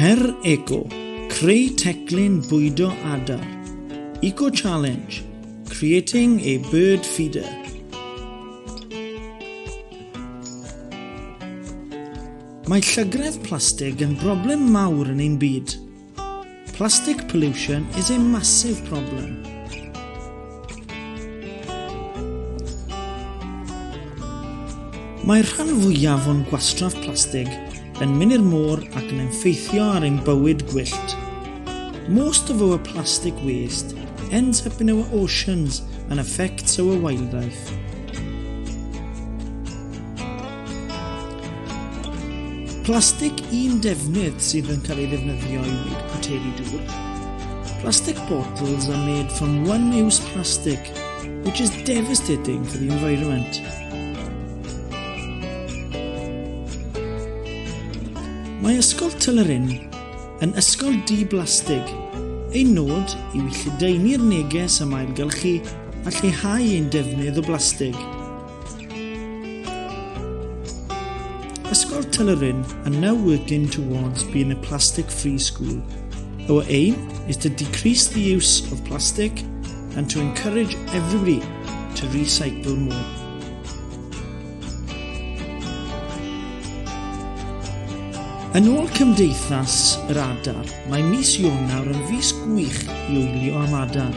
Her Eco, creu teclyn bwydo adar. Eco Challenge, creating a bird feeder. Mae llygredd plastig yn broblem mawr yn ein byd. Plastic pollution is a massive problem. Mae'r rhan fwyaf o'n gwastraff plastig yn mynd i'r môr ac yn effeithio ar ein bywyd gwyllt. Most of our plastic waste ends up in our oceans and affects our wildlife. Plastig un defnydd sydd yn cael ei ddefnyddio i wneud poteri dŵr. Plastic bottles are made from one-use plastic, which is devastating for the environment. Mae Ysgol Tylerin yn ysgol di-blastig. Ein nod yw i lledaenu'r neges am ailgylchu a lleihau ein defnydd o blastig. Ysgol Tylyryn are now working towards being a plastic free school. Our aim is to decrease the use of plastic and to encourage everybody to recycle more. Yn ôl Cymdeithas yr Adar, mae mis Ionawr yn fis gwych i wylio am adar.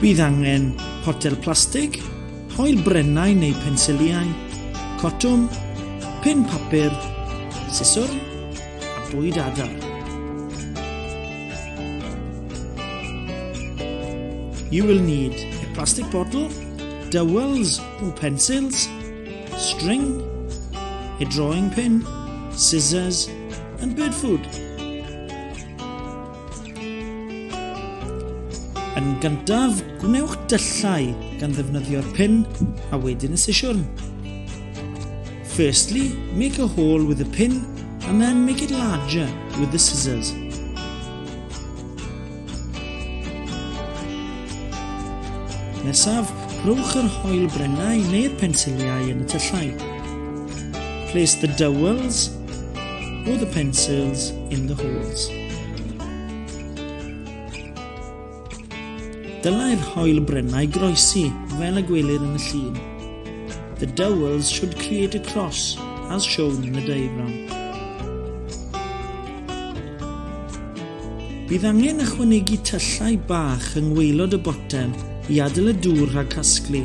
Bydd angen potel plastig, hoel brennau neu pensiliau, cotwm, pin papur, siswrn a bwyd adar. You will need a plastic bottle, dowels or pencils, string, a drawing pin, scissors And bird food. Yn gyntaf, gwnewch dyllau gan ddefnyddio'r pin a wedyn y sesiwn. Firstly, make a hole with the pin and then make it larger with the scissors. Nesaf, rhowch yr hoel brennau neu'r pensiliau yn y tyllau. Place the dowels Put the pencils in the holes. Dylai'r hoel brennau groesi fel y gwelir yn y llun. The dowels should create a cross as shown in the diagram. Bydd angen ychwanegu tyllau bach yng ngweilod y botel i adael y dŵr rhag casglu.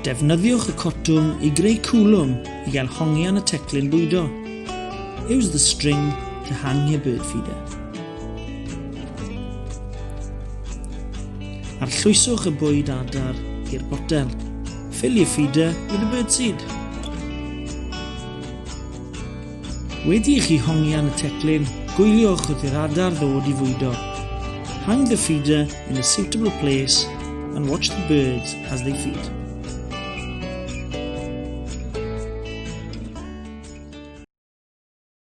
Defnyddiwch y cotwm i greu cwlwm i gael hongian y teclyn bwydo. Use the string to hang your bird feeder. Arllwyswch y bwyd adar i'r botel. Fill your feeder with the bird seed. Wedi i chi hongian y teclyn, gwyliwch wrth i'r adar ddod i fwydo. Hang the feeder in a suitable place and watch the birds as they feed.